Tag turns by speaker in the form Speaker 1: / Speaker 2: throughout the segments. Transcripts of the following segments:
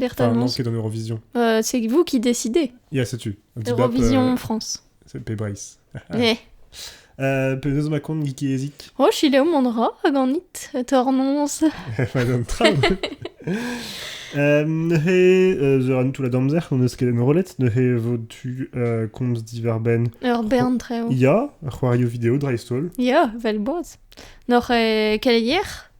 Speaker 1: Enfin, non,
Speaker 2: c'est dans Eurovision. Euh, c'est vous qui
Speaker 1: décidez. Yeah, c'est tu.
Speaker 2: Eurovision euh,
Speaker 1: France. C'est Pebris.
Speaker 2: Eh. Euh, Peneus Macon, Geeky Ezik. Oh, chile au mandra,
Speaker 1: aganit, tornons. Euh, he
Speaker 2: euh, zeran tout la damzer, on eskelen rolet, ne he votu euh, komz diverben. Ur bern treo.
Speaker 1: Ya, c'hoario video
Speaker 2: dreistol. Ya, vel boaz.
Speaker 1: Nor eh, keleier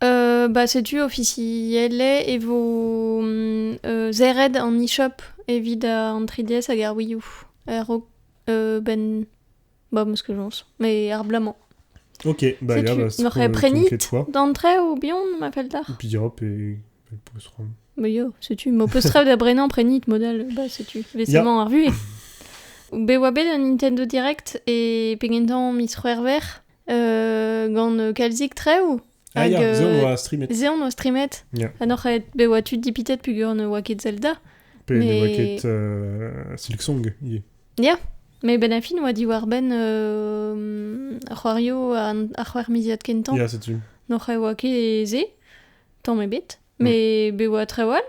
Speaker 1: Ba setu ofisiellet e vo serret an e-shop evit an 3DS hag ar Wii U a-raok benn ba meskañs mais ar bloaz-mañ. Ok,
Speaker 2: bah ya, bah c'est Setu, tu me crées
Speaker 1: de
Speaker 2: quoi?
Speaker 1: d'entrée ou
Speaker 2: bihan
Speaker 1: ma fell d'ar? Bien, pe
Speaker 2: pe postrem. Bah yo, setu
Speaker 1: ma postref da brenañ prenit modal bah setu vesamment ar vuhez. Bet oa bet un Nintendo Direct e pe gentañ miz C'hwevrer gant kalzik traoù. Ah hag, ya, ze on oa
Speaker 2: streamet. Ze on oa streamet.
Speaker 1: Ya. Ha n'oc'h aet
Speaker 2: be oa
Speaker 1: tud dipitet pugur ne oa ket Zelda. Pe ne Mais- oa
Speaker 2: ket
Speaker 1: euh,
Speaker 2: Silk Song ivez. Ya, mais ben a fin
Speaker 1: oa diwar-benn euh, ar c'hoario an ar c'hwec'hmiziad kentañ. Ya, setu. N'oc'h e
Speaker 2: oa ket
Speaker 1: e ze, tamm ebet. Mais be oa traoù all.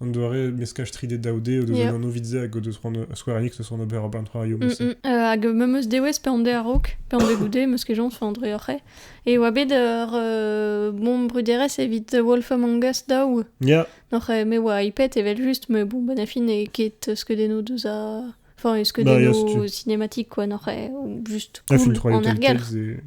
Speaker 2: An doare meskaj 3D-daoude o deus yeah. un anv vite hag o deus c'hoant Square Enix o son ober un troario mm, mm. euh, hag me meus
Speaker 1: dewez pe an de arok pe an de goude meus ket joñs an dreoc'he e oa bet ur euh, bon bruderezh evit Wolf Among Us daou yeah. Noc'h
Speaker 2: me oa
Speaker 1: ipet evel just me bon bon affin e ket skeudennoù deus a Enfin, est-ce que bah, des yeah,
Speaker 2: cinématiques,
Speaker 1: quoi,
Speaker 2: non,
Speaker 1: ou juste cool, en argal.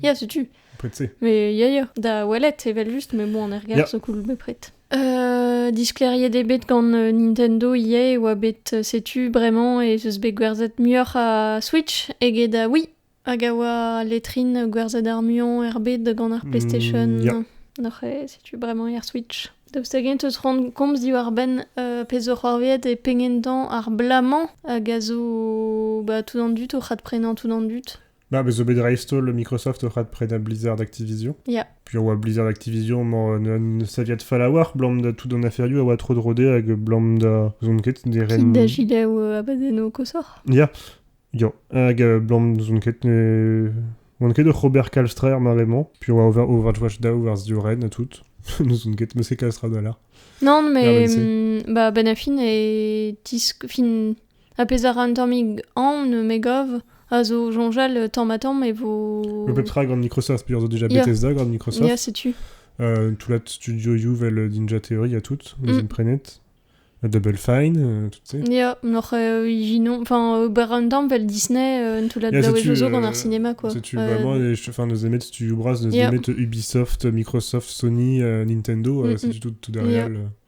Speaker 2: Yeah,
Speaker 1: c'est tu. Bepred-se. Mais
Speaker 2: ya, ya, da
Speaker 1: ouellet evel just, mais bon, on est regarde, Yeah. so cool, bepred. Euh, diskleriet eo bet gant euh, Nintendo ivez e oa bet, euh, setu bremañ ez eus bet gwerzhet muioc'h a Switch eget a Wii, hag a oa letrin gwerzhet ar muiañ er bet gant ar PlayStation. Mm, yeah. Noc'h
Speaker 2: eo, setu
Speaker 1: bremañ er Switch. Daoust hag-eñ teus ront komz diwar-benn euh, pezh zo c'hoarvezhet e pegen dañ ar bla-mañ hag a zo bah, tout an dud o c'adprenañ tout an dud Bah, mais zo bet dreist-holl
Speaker 2: Microsoft oc'h adprenañ Blizzard Activision. Yeah. Puis a oa
Speaker 1: Blizzard
Speaker 2: Activision mañ ne saviat fallawar blam da tout an aferioù a oa tro drode hag blam da zon ket ne ren... Fin da jilaou euh,
Speaker 1: abadenno kosoc'h. Ya.
Speaker 2: Ya. Hag euh, blam zon ket ne... Oan ket ur Robert Kalstrer maremañ, puis oa Overwatch Daou war Ren et tout. ne zon ket, mais c'est Kalstra da là. Non, mais...
Speaker 1: Ah, bah, Ben
Speaker 2: Affin
Speaker 1: est... Fin... Ha pezh a ra un tammig anv, me gav, a zo soñjal tamm-ha-tamm e vo... Le pep tra gant Microsoft,
Speaker 2: penaos zo déjà Bethesda gant Microsoft.
Speaker 1: Ya,
Speaker 2: setu.
Speaker 1: Euh, tout la
Speaker 2: studio U vel Ninja Theory a tout, mm. imprenet. Double Fine, euh, tu sais. Ja, noch euh,
Speaker 1: ijinon, enfin, ber un temps vel Disney, euh, tout la yeah, daou ejo gant ar
Speaker 2: cinéma, quoi.
Speaker 1: C'est tu euh... vraiment, enfin,
Speaker 2: nous aimer studio bras, nous yeah. aimer Ubisoft, Microsoft, Sony, euh, Nintendo, euh, mm -mm. c'est du tout, tout derrière. Yeah. Le...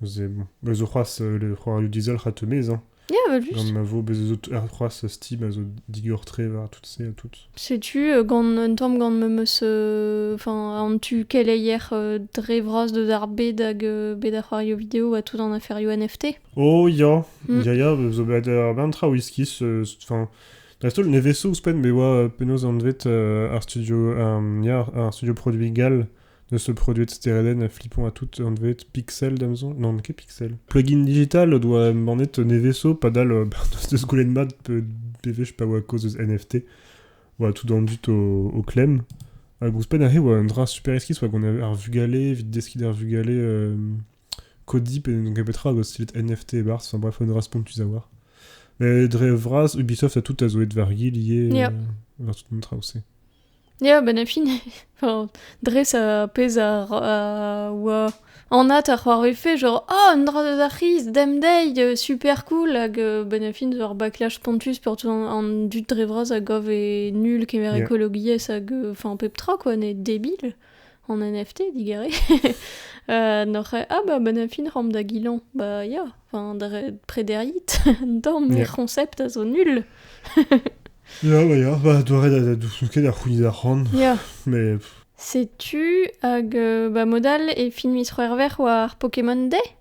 Speaker 1: Bez zo
Speaker 2: c'hoazh le c'hoarioù dizelc'h a-tomez hein. Ya,
Speaker 1: vel just. Gant ma vo bez zo
Speaker 2: c'hoazh Steam a zo digor-tre war tout se ha tout. Setu euh, gant
Speaker 1: un tamm gant me meus euh, enfin an tu keleier euh, dre vras deus ar bed hag euh, bed ar c'hoarioù vidéo ha tout an aferioù NFT. Oh ya, mm.
Speaker 2: ya ya, zo bet ar bern tra wizkis, enfin dreist-holl ne veso ouzhpenn be oa penaos anvet ar studio ar studio produit gal N'eus bet produet steredenn ha flipañ ha tout anvet Pixel, damzon Non, ket Pixel. Plugin digital o doa embannet Neveso, padal euh, bah, deus deus goulenn mat bewech pa oa kaoz deus NFT. Voilà, tout dans le but au, au clem. Hag ouzhpenn aze oa un dra super esquis oa qu'on avait ar vugale, evit deskiñ d'ar vugale euh, Cody, pe donc petra hag style NFT et bars, enfin bref, un dra spontus à voir. Mais dre vras, Ubisoft a tout a zo et varié lié yeah. euh, vers tout le monde traossé. Ya, benn ar
Speaker 1: fin, dres ar pezh a oa anat ar c'hoarvefe, genre oh, un dra deus ar c'hiz demdeiz, super cool, hag benn ar fin zo ur backlash spontus pour tout an dud dre vras a gav e nul kemer Yeah. ekologiezh hag, enfin, pep tra quoi, ne debil. en NFT, digare. euh, noc'h ah bah ben fin ram da gilan, bah ya, enfin dre prederit, dorm yeah. concept a zo nul. ya bah ya,
Speaker 2: bah doare da da dousounket a c'houni da c'hoan. Ya. Mais Setu
Speaker 1: hag euh, bah modal e fin mis roer war Pokémon Day.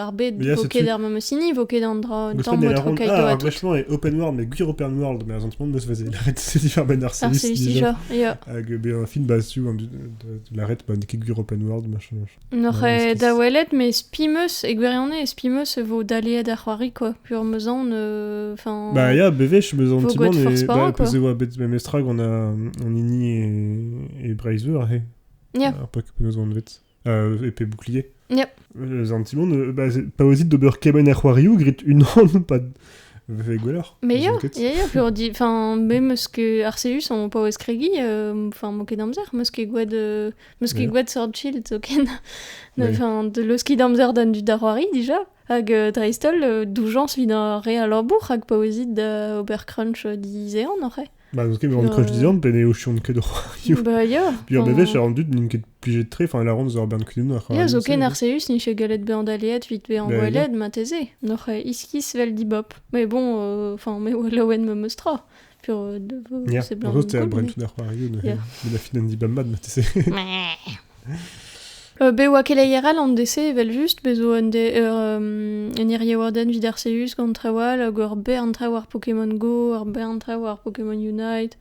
Speaker 1: ar bet vo ket er memes hini, vo ket an dra temps o trokai ah, ar gwechement e open world, mais gwir
Speaker 2: open world, mais en ce moment, meus veze laret c'est différent ben déjà.
Speaker 1: Hag ben un film
Speaker 2: basé de la red, ben qui gwir open world, machin. Noch e da
Speaker 1: welet, mais spimeus, e gwirione, spimeus vo d'aller da c'hoari, quoi. Pur meuzan, enfin... Bah,
Speaker 2: ya, beveche, meuzan, timon, et bah,
Speaker 1: plus de bet,
Speaker 2: mais
Speaker 1: mestrag, on
Speaker 2: a, on ini et, et Braveheart, he. Ja. Ar
Speaker 1: pak peus an
Speaker 2: vet. e pe bouclier. Yep.
Speaker 1: An timon,
Speaker 2: bah, paosit d'ober kemen er c'hoariou, grit unan, pas Ve gwelloc'h. Mais ya, ya, ya,
Speaker 1: pour dire, enfin, même ce que Arceus on paouez Craigie, enfin, moquer d'amzer, moquer gwad, moquer gwad Sword Shield, token. Enfin, de loski d'amzer dan du darwari, déjà. Hag euh, Dreistol, euh, d'oujans vin a re a labour, hag paouezit da ober crunch euh, di zean, oc'h Bah, n'eus ket bezañ crunch
Speaker 2: dizan pe ne ochion ket o c'hoarioù. Bah, ya. Bihan
Speaker 1: bevech, ar an dud
Speaker 2: n'int ket plijet tre, enfin, la ronde zo ar bern kudennoù ar Ya, zoken Arceus
Speaker 1: n'eche gallet bezañ daleet vit bezañ Bah, ya. boellet mateze. Noc'h euh, iskis vel dibop. Mais bon, euh, enfin, me oa laouen ma meus tra. Puis, euh, de- Ja, c'est blanc. zo, c'est un bren tout ar c'hoarioù
Speaker 2: de, Yeah. de la fin d'Andy Bamad, mateze.
Speaker 1: Be oa keleier all an de-se evel-just, be zo un, de, ur, un iriewardenn evit Arceus gant traoù all, hag ur bern traoù ar Pokémon Go, ur bern traoù ar Pokémon Unite,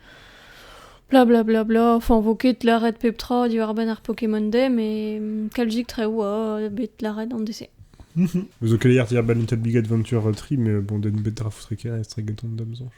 Speaker 1: bla bla bla bla. Enfin, vo ket lâret pep tra diwar-benn ar Pokémon Day, mais kalzik traoù oa bet lâret an de-se. Zo
Speaker 2: keleier diabalinted Big Adventure Tree, mais bon, den bet dra foutre ker, e streg gant an damzanch.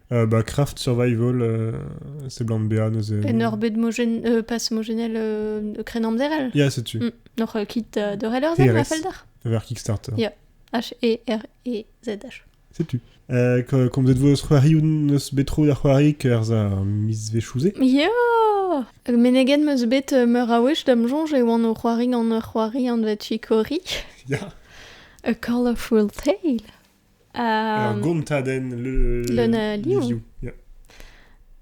Speaker 1: bah, Craft
Speaker 2: Survival, seblant bezañ neuze. En ur bed mogen,
Speaker 1: euh, passe mogenel euh, kren amzer el Ya, setu. Mm. Nor
Speaker 2: euh, kit euh,
Speaker 1: de reller zen la felder Vers Kickstarter.
Speaker 2: Yeah.
Speaker 1: H-E-R-E-Z-H. Setu. Euh,
Speaker 2: comme vous êtes vos c'hoari ou neus bet tro da c'hoari ker a mizvechouze? Yo!
Speaker 1: Menegen meus bet euh, meur a wech dam soñj e oan o c'hoari gant ur c'hoari anvet Chikori. Ya.
Speaker 2: A Call
Speaker 1: of Cruel Tale. Ur gontadenn
Speaker 2: leun a livioù.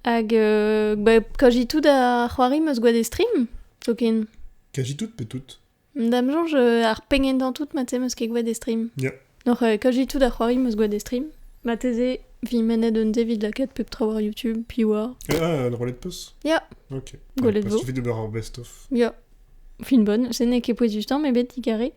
Speaker 2: Hag
Speaker 1: euh, bah, kaji tout da c'hoari meus gwad e stream, zoken. Kaji tout pe tout
Speaker 2: Da'm soñj euh,
Speaker 1: ar pengentañ tout mat meus ket gwad e stream. Yeah. Donc euh, kaji
Speaker 2: tout da
Speaker 1: c'hoari meus gwad e stream. Mateze, vi mennet un devid lakaet pep tro war YouTube, pi war. Ah, le roulette peus?
Speaker 2: Yeah. Ok.
Speaker 1: Gwelet
Speaker 2: vo. Il suffit de voir
Speaker 1: un best-of.
Speaker 2: Yeah.
Speaker 1: Finbonne, se n'eo ket pouez dutañ, met bet digaré.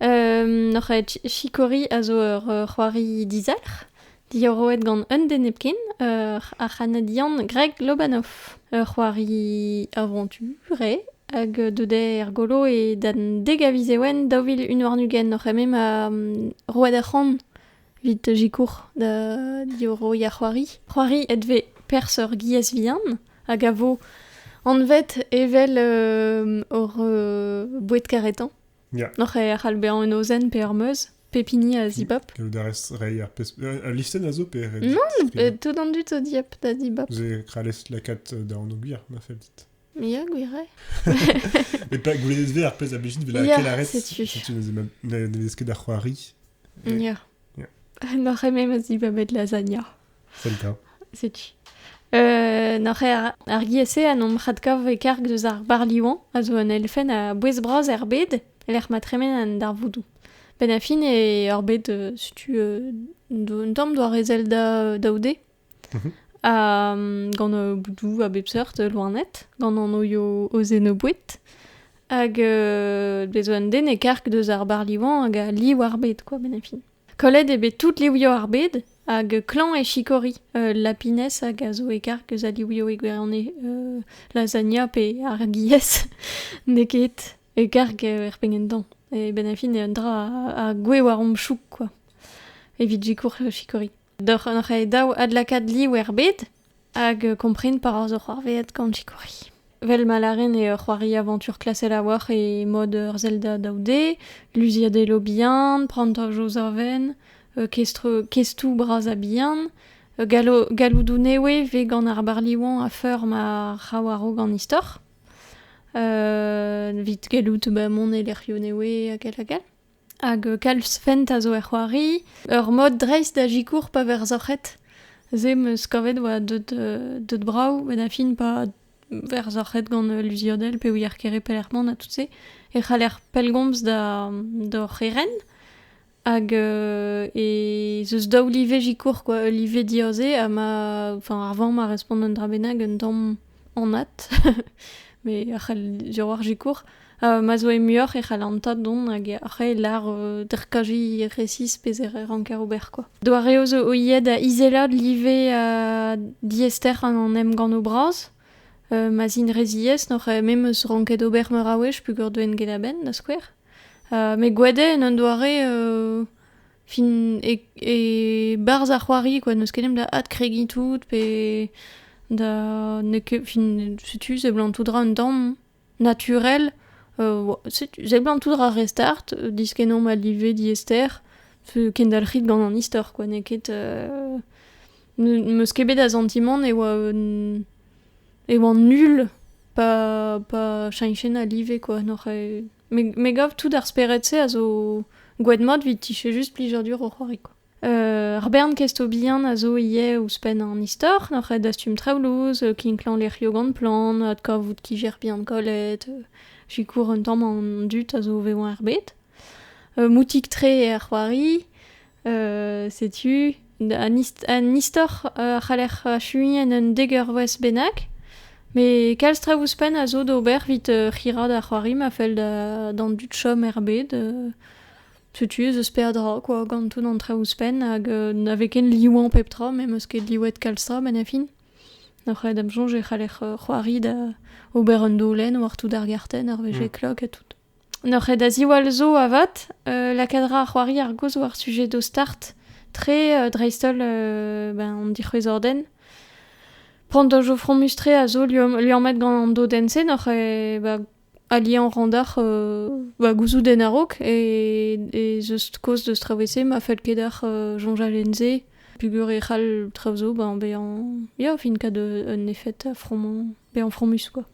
Speaker 1: Euh, Noc'h aet Chikori a zo ur ur c'hoari dizalc'h, diorroet gant un den hepken, ur ar C'hanadian Greg Lobanov. Ur c'hoari aventure hag deudet er golo e dan dek a viz ewen daou vil un warn-ugent oc'h eme ma roet ar c'han Vit sikour da diorroiñ ar c'hoari. C'hoari edve perzh ur giez vihan hag a vo anvet evel euh, hor euh, boued karetañ. Yeah. Noc'h e
Speaker 2: c'hall bezañ
Speaker 1: un ozenn pe ur meuz, pep hini a zibab. Gaout a rez reiñ ar
Speaker 2: pezh... Al listenn a zo pe Non, tout an
Speaker 1: dud zo dieub da dibab. Vous avez créé la 4
Speaker 2: da anogir, on a fait dit. Mia, gwire Mais pas goulennet ver, après la Belgique devait la Yeah, quelle arrête sais-tu. Si tu n'avais ket da c'hoari. Ia. Ia. Nor eme ma
Speaker 1: zibabet lasagna. Zelda.
Speaker 2: Setu. Euh,
Speaker 1: nor er, ar giese an om radkav e karg deus ar barliwan a zo un elfenn a bouez bras er bed lec'h ma tremen an darvoudoù. Ben a fin e ur bed, euh, setu, euh, d'un tamm doare Zelda euh, daoude, gant boudoù a bep seurt loened, gant anoio o zenoboued. Hag euh, bez un den e karg deus ar barliwan hag a liv ar bed, quoi, benefi. Kollet eo bet tout livioù ar bed, hag klañv e sikori euh, lapines hag a zo e karg eus a livioù e gwirionez euh, lasagna pe ar gies. N'eo ket e karg er pengentan. E benafin e un dra a, a gwe war omp chouk, quoi. Evit sikour sikori. Doc'h re dav adlakaat liv ebet hag kompren pa ra zo c'hoarvezhet gant sikouri. Vel ma lâren eo c'hoari avantur klasel a-walc'h e mod ur Zelda daou-d, luziadelloù bihan, prantajoù savenn, kestoù bras ha bihan, galloudoù newe 'vez gant ar barliwan a-feur ma ra war-raok an istor, evit gallout mont e lec'hioù newe hag all hag all. Hag kalz fent a zo er c'hoari. Ur mod dreist da sikour pa vez rzoc'het. Se 'm eus kavet 'oa deut deut brav met a fin pa vez roc'het gant luziodell pe ouier kere pelec'h mont ha tout-se e c'haller pellgomz da d'hor c'herent. Hag e z eus daou live sikour quoi. Ul live diaoze ha ma, enfin, ar vamm a respont un dra bennak un tamm. anat, mais a c'hell diroar zikour, euh, ma zo e muioc'h e c'hall an tad dont hag a c'hell lar euh, derkaji resis pe e ranker ober quoi. Doareoù zo oiet da izelat live uh, diester an em gant o bras, euh, ma zin rezies nor me meus ranket ober meur a wech pugur doen get a ben da skouer. Uh, me gwede en un doare uh, Fin, e, e barz ar c'hoari, quoi, n'eus ket da adkregiñ tout, pe da... n'eo ket... Fin, setu, seblant tout dra un tamm naturel. Euh, setu, seblant tout dra restart, euh, diskennomp a live diester, kendalc'hit gant an istor, quoi, n'eo ket... Euh, n'eus ket bet a santimant e oa... e oa nul pa... pa cheñchen a live, quoi, n'oc'h... Me, gav tout ar spered-se a zo gwed mat evit tiche just plijadur o c'hoari. Quoi. Euh, ar bern kestobihan a zo ivez ouzhpenn an istor, ar red dastum traoulouz, euh, kinklañ lec'hioù gant plant, adkavout ki bihan kollet, euh, sikour un tamm an dud a zo vevañ er bet. moutik-tre er c'hoari, setu un istor a c'haller achuiñ en un dek eurvezh bennak met kalz traoù ouzhpenn a zo d'ober evit c'hirañ da c'hoari ma fell d'an dud chom er bed setu ez eus peadra quoi gant tout an traoù ouzhpenn hag na vez ken liwuañ pep tra me 'm eus ket liwet kalz tra met a fin nac'haet am soñj e c'haller c'hoari da ober un dolenn war tout ar gartenn ar wech e klok ha tout N'oc'h ket da ziwall zo avat, lakaat ra ar c'hoari ar gaoz war sujed ho start, tre dreist-holl ben an dic'hwezhordenn. Pandojo fromus-tre a zo liammet gant an dodenn-se n'oc'h ket ba aliañ ran deoc'h va gouzouten a-raok ez eus kaoz deus traoù-se ma fell ket deoc'h soñjal en-se peogwir e c'hall traoù zo bezañ ya fin-kat un efed fromañ, bezañ fromus quoi.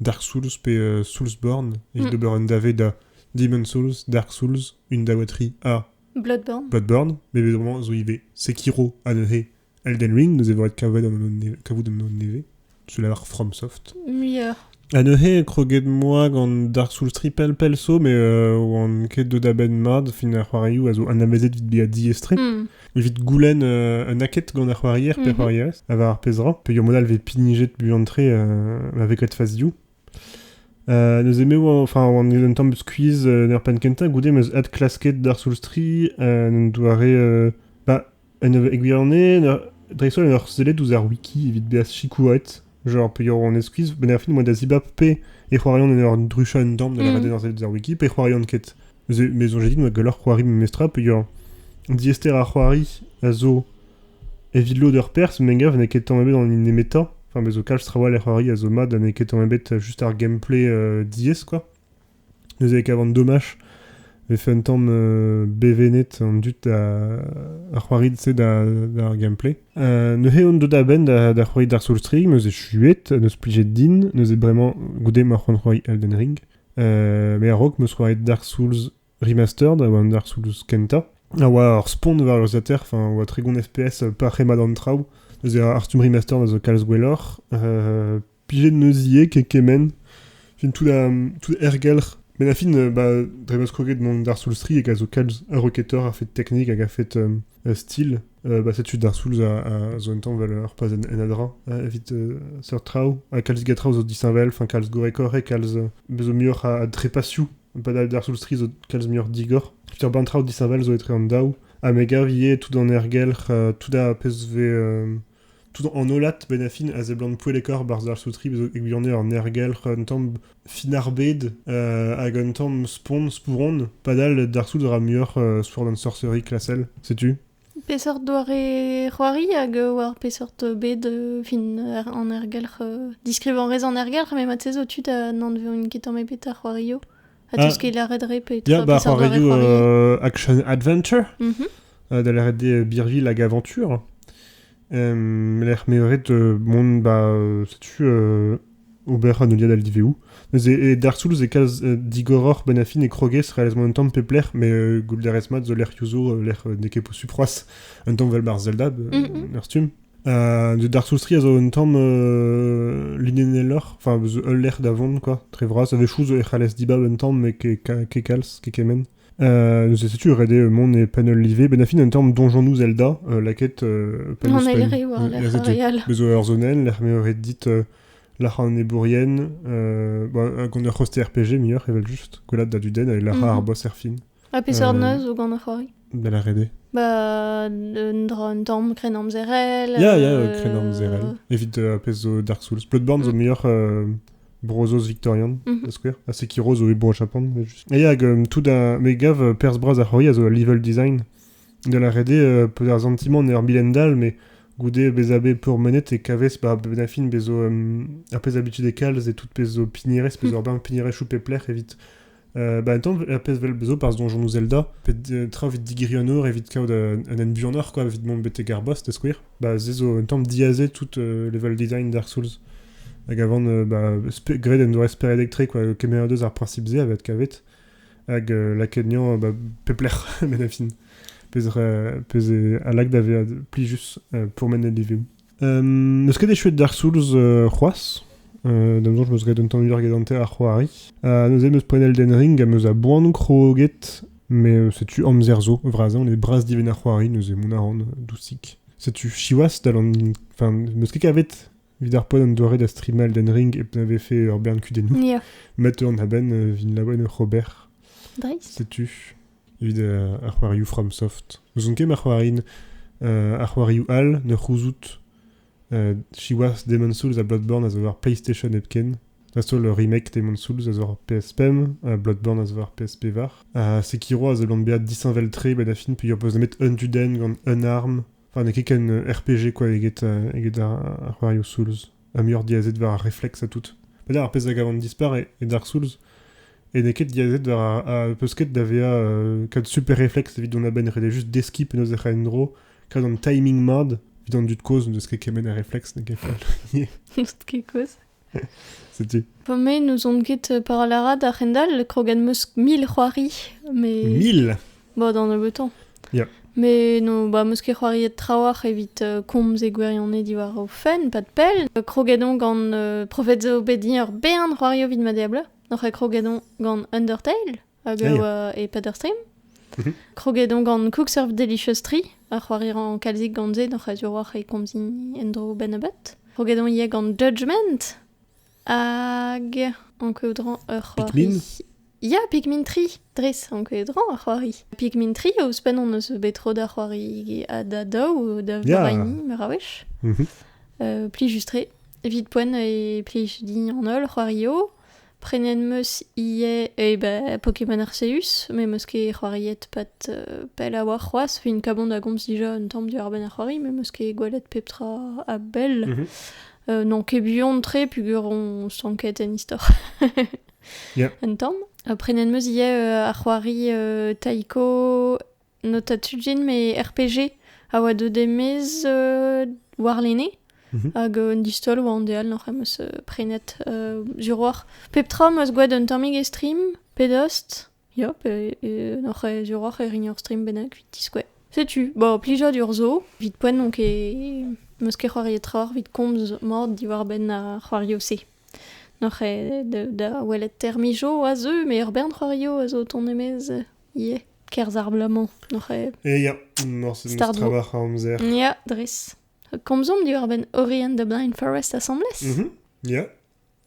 Speaker 2: Dark Souls pe euh, Soulsborne, et mm. d'ober un davet da Demon Souls, Dark Souls, une dawaterie à Bloodborne. Bloodborne,
Speaker 1: mais vraiment, zo
Speaker 2: ive. Sekiro, Anohe, Elden Ring, nous avons kavu d'un neve. Tu la marque FromSoft. Meilleur.
Speaker 1: Anohe
Speaker 2: kroget moa gant Dark Souls Triple pelso, mais euh, oan ket do da ben mad, fin ar c'hoariou a zo anavezet vit bea diestri. Mm. evit goulenn euh, un aked gant ar c'hoarier pe ar mhm. c'hoarierez, ha war ar pezh ra, peogwir al vez pinijet buan-tre euh, avec Let Fast You. Euh, neus eme enfin oan un tamm squeeze en er penn kentañ goude meus ad klasket d'ar soulstri un doare ba un e gwirionez dreist-holl un ur sellet ouzh ar wiki evit bezañ sikouret Genre, peogwir on eskwiz, benn ar fin oa da zibab pe e c'hoarian en ur druchañ un dorn da mhm. lavaret ar ar wiki, pe e c'hoarian ket. Me zoñj dit oa gwelloc'h c'hoari memestra, peogwir diester ar c'hoari a zo evit lod ur perz, me gav n'eo ket tamm ebet an nemetañ. Enfin, me zo kalz trawalc'h c'hoari a zo mat, ha n'eo ket tamm ebet juste ar gameplay euh, diaes, quoi. Neuze e kavan domaj vefe un tamm euh, bevennet an dud da c'hoarit-se d'ar gameplay. Uh, neuze on deuet a-benn da, da c'hoari Dark Souls 3, neuze chuet, neus plijet din, neuze bremañ goude ma c'hoant c'hoari Elden Ring. Uh, me a-raok meus c'hoari Dark Souls Remastered, a oa un Dark Souls kenta, a oa ar spont war ur zater, enfin, a oa tregon FPS par c'hemad an traoù. Neuze ar Artum Remastered a zo kalz gwelloc'h, uh, Plijet neus ivez ke kement, fin tout, a, tout ergelc'h. Men a fin, euh, bah, dre ma skroget mont d'ar Soulstry hag a zo kalz ur roketor a fet teknik hag a fet euh, euh, stil, euh, bah, setu d'ar Souls a, a zo un tamm valeur pas en, en adra hein, evit euh, seurt traoù. Ha kalz diga traoù zo disheñvel, enfin kalz gorrekore, kalz euh, bezo muioc'h a, a drepasioù. Pas d'ar Soulstry zo kalz muioc'h digor. Evit ur bann traoù disheñvel zo etre an daou. Ha me gav ivez tout an ergelc'h, euh, tout a pezh vez euh, Tout an hollad pennañ-fin a seblant poellekoc'h barzh ar saout-ribl zo e gwirionez ur nergelc'h un tamm finarbed hag un tamm spont spouron padal d'ar soud a ra muioc'h spouron an sorcery klasel. Setu. Peseurt doare
Speaker 1: c'hoari hag war peseurt bed fin an ergelc'h? Diskrivañ a rez an ergelc'h met mat-se zo tu da n'anvevin ket tamm ebet ar c'hoarioù. Ha t'eus ket lâret re pe tra ba c'hoarioù action adventure
Speaker 2: da lâret Birville hag Aventure lec'h meret mont ba setu ober an heuliad al liveoù neuze e Dark Souls e kalz digoroc'h Banafin e kroges realezement un tamm pep lec'h mais goulderez mat zo lec'h yuzo lec'h n'eo ket posupl c'hoazh un tamm 'vel bar Zelda ur stumm D'ar soustriñ a zo un tamm linennelloc'h, enfin ul lec'h da vont quoi, très vras. A-wechoù zo e c'hallez dibab un tamm met kekalz, kekemenn. neuze setu ret eo mont e penn ul live, benn a fin un tamm donjonoù Zelda, lakaet penn ouzh penn. An
Speaker 1: aereo Bez zo ur zonenn lec'h
Speaker 2: m'eo ret dit lac'hañ an ebourien, bon, gant ur c'hoste RPG muioc'h evel-just, gwelat da du den, ha lac'hañ ar boss er fin. Ha peseurt neuz
Speaker 1: zo gant ar c'hoari Ben a rede.
Speaker 2: Bah, un,
Speaker 1: dra, un tamm krennamzerel. Ya, ya, euh, krennamzerel.
Speaker 2: Evit euh, pezh zo Dark Souls. Bloodborne zo mm. muioc'h euh, Brozos Victorian, mm -hmm. skouer. Ha Sekiro zo e Bro Japan. Et hag euh, tout un... Mais gav, euh, Pers Bras a c'hoari a zo level design. De la rede, euh, peu ar sentiment ner bilendal, mais goude bezabe pour menet e kaves ba benafin bezo euh, ar pez habitude e kalz et tout pezo pinires, pezo mm. urbain pinires choupe pler evit Bah, attends, un pezh vel bezo par donjon Zelda, pe euh, tra evit digeri an or evit kaout euh, un hent buanoc'h, quoi, evit mont betek ar boss, da skouer. Bah, se zo un tamm diazez tout euh, level design Dark Souls. Hag avant, euh, bah, spe- graet en doa esperet electric, quoi, kemer deus ar principe-se a vet kavet. Hag euh, lakaet niañ, bah, peplec'h, met a fin. Pezh euh, pezh eo alak da vezañ plijus euh, pour mes Livim. Eus ket echuet d'ar soulz c'hoazh. Da noz meus graet un tamm muioc'h gedante ar c'hoari. neuze meus poenel den ring ha meus a boan kroget. Met setu amzer zo. Vras on e bras dibenn ar c'hoari neuze mont a ran dousik. Setu siwazh dal an... Enfin, meus ket kavet evit ar poen an doare da strimal den ring hep na vefe ur bern kudennoù. Met an
Speaker 1: abenn
Speaker 2: vin laouen Robert. Dreist. Setu. evit ar c'hoarioù FromSoft. N'ouzon ket ma c'hoarint ar c'hoarioù all ne c'houzout. siwazh, Demon Souls ha Bloodborne a zo war PlayStation hepken. Dreist-holl remake Demon Souls a zo war PS5, Bloodborne a zo war PSP var. Ha Sekiro a zeblant bezañ disheñvel-tre ba da film peogwir beus nemet Unto-Den gant Unarm. Enfin, n'eo ket ken RPG quoi eget, eget ar, ar c'hoarioù Souls. ha muioc'h diazet war ar refleks ha tout. Petra ar pezh a gavan dispar e, e Dark Souls e n'eo ket diazet war ar, peus ket da vezañ euh, kad super refleks evit dont a-benn ret juste deskiñ penaos ec'h a en-dro kad an timing mad evit an dud kozh n'eus ket kemenn ar refleks n'eo ket fall n'eus ket
Speaker 1: kozh
Speaker 2: setu Bon, mais nous
Speaker 1: ont ket parlé à d'ar c'hendal, crogan meus mil c'hoari, mais... Mille Ba,
Speaker 2: da nebeutañ.
Speaker 1: Yeah. Mais
Speaker 2: no,
Speaker 1: bah, meus ket c'hoariet trawalc'h evit euh, komz e gwirionez diwar o fenn, pas de pell. Euh, kroget on gant euh, Profet zo bet din ur bern c'hoari evit ma diabl. Noc'h kroget on gant Undertale hag Aïe. euh, e Peter Stream. Mhm. Kroget on gant Cook Surf Delicious Tree, a c'hoari ran kalzik gant se, noc'h a durwalc'h e komzin endro benn a-bet. Kroget on ivez gant Judgment, Hag ankoù dran ur c'hoari.
Speaker 2: Ya, Pikmin
Speaker 1: 3. Dres, ankoù dran ar c'hoari. Pikmin 3, ouzhpenn on eus bet tro da c'hoari ha da daou, da veraini, meur a wech. Mhm. Plijus-tre. Evit poent e plij din an holl c'hoario. Prenet meus ivez eh ben, Pokémon Arceus, met meus ket c'hoariet pat pell a-walc'h c'hoazh. Fin kabon da gomz dija un tamm diwar-benn ar c'hoari, met meus ket gwelet pep tra a-bell. n'on ket buan-tre peger on stanket en istor. Un tamm. Prenet meus ivez ar c'hoari taiko, Nota Tujin, me RPG a oa deuet emez warlene. Mhm. Hag un distol oa an deal noc'h em eus prenet sur oac'h. Pep tra meus gwelet un tammig e stream, pe dost. Yop, e, oc'h e, diorroc'h e rign ur stream bennak evit diskouez. Setu, bo, plijadur zo, evit poent onk e, meus ket c'hoariet tra evit komz mat diwar-benn ar c'hoario-se. Noc'h e, da, da welet termijo a zeu, met ur bern c'hoario a zo o tont e-maez ivez, kerzh ar bloaz-mañ, noc'h e. E, ya,
Speaker 2: morse n'eus tra bac'h a amzer. Ya, dres.
Speaker 1: Komzomp diwar-benn Ori and the Blind Forest asambles? Mhm, ya.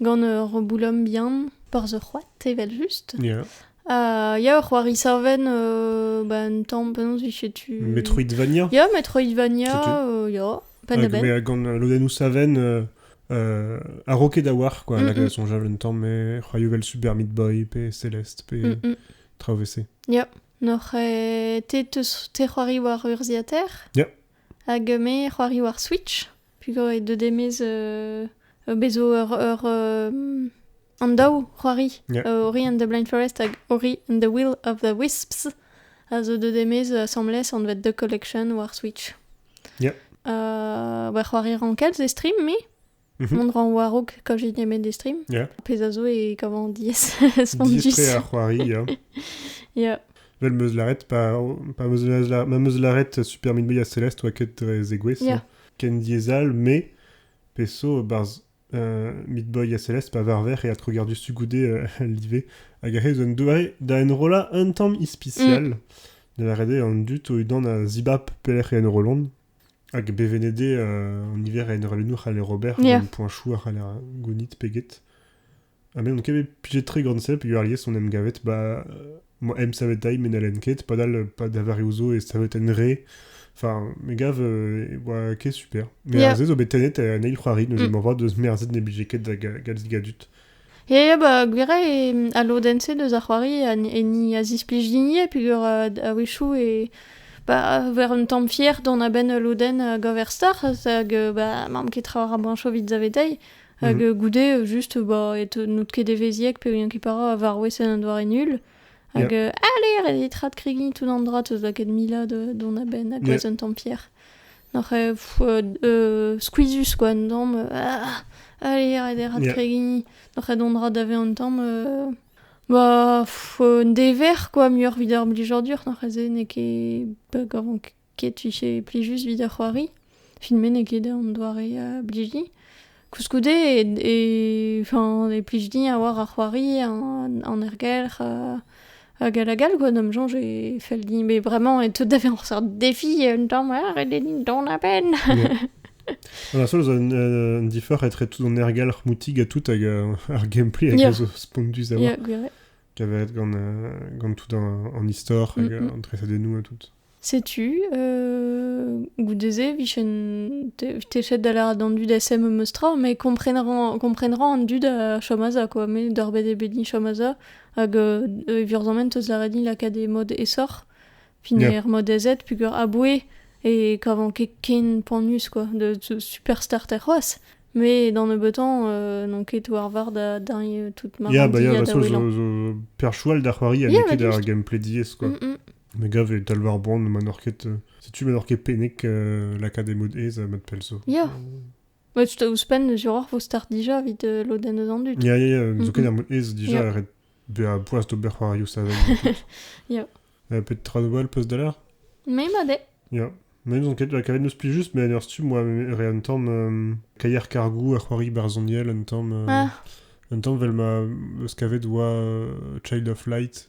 Speaker 1: gant ur boulom bihan, porzh ur c'hoad, evel-just. Yeah. Ha
Speaker 2: ya, ur
Speaker 1: c'hoari savenn euh, bah, un tamm, penaos vije tu... Metroidvania Ya,
Speaker 2: Metroidvania,
Speaker 1: euh, ya, penn-a-benn. Mais gant lodennoù
Speaker 2: savenn euh, euh, a roquet da war, quoi, mm la création j'avais un temps, mais croyais vel Super Meat Boy, pe Céleste, pe mm -mm. Trauvessé. Ya,
Speaker 1: n'oc'h te te c'hoari war urziater? Ya.
Speaker 2: Hag me
Speaker 1: c'hoarioù ar Switch, pugañ e deu demez bez zo ur ur an daou c'hoari, Ori and the Blind Forest hag Ori and the Will of the Wisps a zo deuet demez asambles anvet The Collection war Switch.
Speaker 2: ba
Speaker 1: c'hoari rankell 'z eo stream me. Mhm. Mont ran war-raok quand j'ai mes des streams. Yeah. Pezh a zo e
Speaker 2: kavan
Speaker 1: diaes spondus. Distrait à
Speaker 2: c'hoari, ya. Yeah.
Speaker 1: Vel meus laret,
Speaker 2: pa, pa meus laret, ma meus laret Super Meat Boy a Celeste oa ket dre zegouez, Yeah. ken
Speaker 1: diezal,
Speaker 2: me, peso, barz euh, Meat Boy a Celeste pa varver e atro gardu sugoude euh, al live, hag ahe zo un doare da enrolla un tamm ispicial, de la rede an dut o udan a zibap pelec'h e enrollont, Hag bevennet eo an niver a enrollennoù c'haller ober, gant poañsoù a c'haller gounit pe get. Ha me n'on ket bet pijet-tre gant se, peogwir alies on em gavet ba... emsavetañ met n'hellen ket, padal pa da vareoù zo e saveten re. Enfin, me gav e oa ket super. Me a-se zo bet tennet en eil c'hoari, neuze mm. moarvat deus merzet ne blije ket da galz a dud. Ya, bah,
Speaker 1: gwir eo, e- al lodenn-se deus ar c'hoari a- heni a zisplij din ivez peogwir euh, a-wechoù e... bah, ver un tamm fier dont a-benn ul lodenn euh, Gaverstar hag euh, bah, m'am ket tra war bañch evit zaveteiñ. Hag Mhm. euh, goude, euh, juste, bah, e teu- n'out ket evezhiek peogwir ket para a varwes en un doare nul. Hag Yeah. euh, allez, ret eo trat kregiñ tout an dra, teus lakaet mila de- dont a-benn, hag Ouais. un tamm fier. Oc'h skuizhus quoi an damm. Allez, arrête e ra tregini. Oc'h dont ra da vezañ un tamm... Ba un dever quoi, muioc'h evit ar blijadur. N'oc'h se n'eo ket bug avant ket 'vije plijus evit ar c'hoari. Filmet n'eo ket an doare blijiñ. Koulskoude e, e plij din avoir ar c'hoari, an, ergelc'h euh, hag hag hag all quoi. D'am soñj e fell din, mais vraiment, e teu da vezañ ur seurt defi un tamm, ha ret din dont a-benn.
Speaker 2: An seul zo un, differ etre tout an ergelc'h moutig ha tout hag euh, ar gameplay hag a zo spondus d'avoir. Yeah, va être gant, euh, gant tout an, an istor hag mm -hmm. an tresadennoù et tout. Setu,
Speaker 1: euh, goude-se, vichen techet da lâret an dud SM em eus tra, mais kompreneront, kompreneront an dud a chomaza, quoi, mais dorbet eo bet chomaza, hag euh, e virzament eus lâret lakaat e mod esor, fin yeah. er mod ez
Speaker 2: pugur
Speaker 1: aboué, et kavan ket ken panus, quoi, de superstar ter c'hoaz, mais dans le betan, euh, non ket war var da dingue toute ma yeah, bah, yeah, de toute façon,
Speaker 2: je, je,
Speaker 1: perchoual da
Speaker 2: c'hoari a yeah, ket ar gameplay diez, quoi.
Speaker 1: Mm
Speaker 2: -mm. Me gav e talv ar boan ma n'oc'h ket... Setu ma n'oc'h ket pennek lakaat e mod aes mat pell zo. Ya.
Speaker 1: Met je te ouzhpenn, Jérôme, vo start dija evit lodenn eus an dud. Ya, ya, ya. Zo ket ar mod
Speaker 2: aes dija, ret bezañ
Speaker 1: boas
Speaker 2: d'ober c'hoarioù savel.
Speaker 1: Ya. Peut-être trois
Speaker 2: nouvelles peus da l'heure Mais ma dé.
Speaker 1: Ya. Mais nous on
Speaker 2: ket kavet nous spi juste mais ar stu moi re un tam euh, kaier cargou a c'hoari barzoniel un tam euh, ah. un tam vel ma skavet oa euh, Child of Light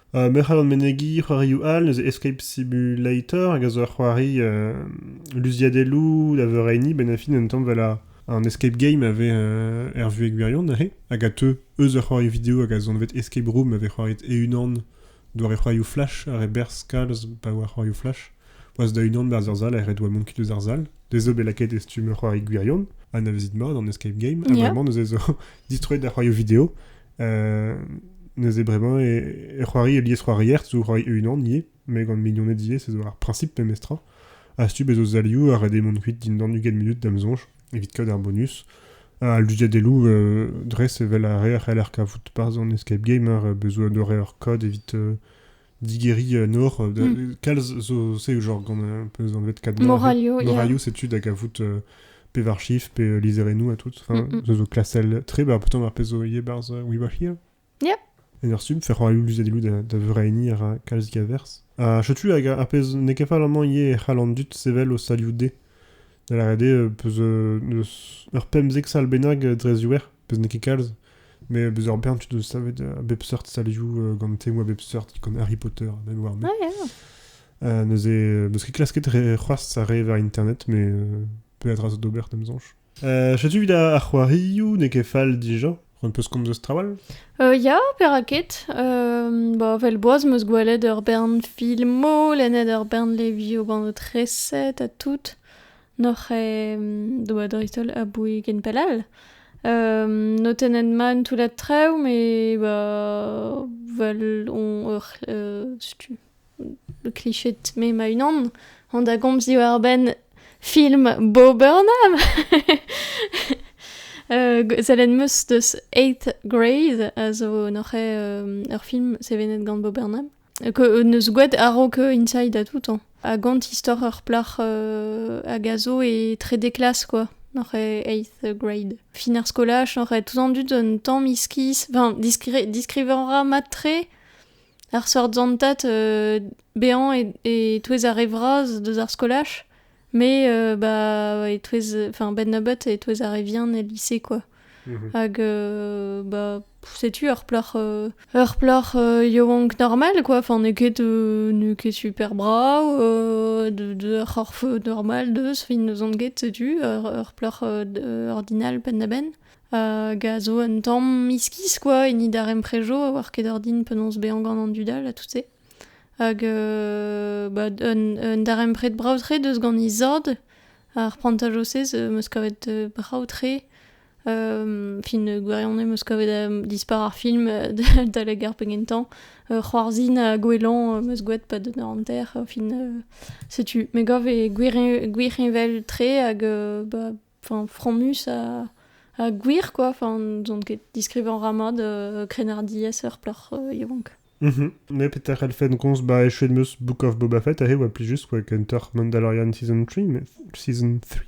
Speaker 1: Merc'h all ar menegiñ,
Speaker 2: c'hoarioù all, neuze Escape Simulator hag a zo ur c'hoari luziadeloù da veureiniñ benn ar fin un tamm 'vel an escape game a vez er vuhez gwirion neuze hag a teu eus ur c'hoari video hag a zo anvet Escape Room ma vez c'hoariet e-unan doare c'hoarioù flash ha re berzh kalz pa oa c'hoarioù flash. Boas da unan 'barzh ur sal ha ret 'oa mont kuit eus ar sal. Dezho bet lakaet e stumm ur c'hoari gwirion. Anavezit mat an escape game ha vraiment neuze 'zo distroet da c'hoarioù video. neuze bremañ e c'hoari e liesc'hoarier zo c'hoari e-unan ivez met gant mignoned ivez ez eo ar priñsip memestra a-stup ez o zalioù a red eo mont kuit dindan ugent munut da'm soñj evit kaout ar bonus al luziadeloù dres evel ar re a c'heller kavout parzh an escape game ar bezo un doare hor kod evit digeriñ un or. Kalz zo c'est genre gant un peu anvet cadre. Moralio. Moralio, c'est
Speaker 1: tu da gavout
Speaker 2: euh, pevar chiffres, pe euh, liserenu à toutes. Enfin, mm zo klasel tre, bah pourtant ar pezh zo ivez barz uh, We Were Here. Yep. En
Speaker 1: ur stumm, fer
Speaker 2: roaioù luzadilou da, da vreini ar kalz gaverz. Ha chetu hag ar pezh n'eo ket fall amañ ivez e c'hall an dud sevel o salioù-de. Da lâret eo, peus ur pemzek sal bennak dre ziouer, peus n'eo ket kalz. Mais bezañ bien, tu dois savoir à bep seurt salioù gant temoù a bep seurt gant Harry Potter ha Manoir. Mais, ah, yeah. euh,
Speaker 1: neuze,
Speaker 2: parce que klasket c'hoazh ar re war internet, mais euh, peadra zo d'ober d'am soñj. Euh, Setu vid ar c'hoarioù n'eo ket fall dija. Un peus komz eus trawal? Euh, ya,
Speaker 1: peraket. Euh, ba, vel boaz meus gwelet ur bern filmoù, lennet ur bern levioù gant o treset ha tout. N'oc'h doa dreist-holl aboue ken pell all. notennet mat an toullad traoù met ba vel on ur setu le cliché de me ma-unan on da gomz diwar-benn film Bo Burnham. sellet 'm eus deus Eighth Grade a zo n'oc'h ur film sevenet gant Bo Burnham. Que neus gouet a-raok Inside à tout hein. Ha gant istor ur plac'h euh, hag a zo e trede klas quoi. Nor e eighth grade. Fin ar skolaj, nor e tout an dud un tamm iskis. Enfin, diskrivañ ra mat-tre ar seurt zantat euh, bezañ e, e touez ar re vras deus ar skolaj. Mais euh, bah, etouez, enfin, bennabeut etouez ar re vihan el lise, quoi. Mhm. Hag, euh, bah, setu ur plor, euh, ur plor euh, yaouank normal, quoi. Enfin, n'eo ket, euh, n'eo ket super brav, euh, de, de ur c'horf normal, deus, fin n'eus on get, setu, ur, ur plor euh, d- euh, ordinal pennabenn. Hag a zo un tamm iskis, quoi, hini daremprejo, a oar ket ordin penaos bezañ gant an dudal ha tout-se. Hag ba un darempred brav-tre deus gant he zad. Ar prantaj-se zo 'meus kavet brav-tre. fin gwirion eo 'meus kavet dispar ar film adalek ar penn-kentañ. c'hoarzhin ha gouelañ 'meus gwraet pa deus hanter. fin setu. Me gav eo gwir heñvel-tre hag ba... enfin, fromus ha, ha gwir, quoi. Enfin, n'ont ket diskrivañ ra mat euh, krennardiezh ur plac'h euh, yaouank. Mhm. Ne peter
Speaker 2: elfen gonz ba echuet meus Book of Boba Fett ahe oa pli just oa kentoc'h Mandalorian Season 3, mais, season 3.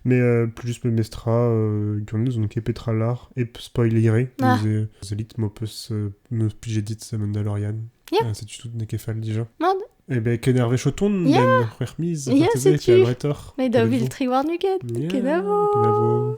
Speaker 2: Mais euh, plus juste memestra, euh, gant nous on ket petra lar, e spoileire, ah. zelit m'o peus euh, m'o pije dit Mandalorian. Yeah. Ah, c'est tout
Speaker 1: n'e ket fall
Speaker 2: déjà. Non, Eh ben,
Speaker 1: kennervez o
Speaker 2: tont den c'hwec'h miz.
Speaker 1: Ya, setu. Met da vil tri
Speaker 2: warn-ugent.
Speaker 1: Kenavo.
Speaker 2: Kenavo.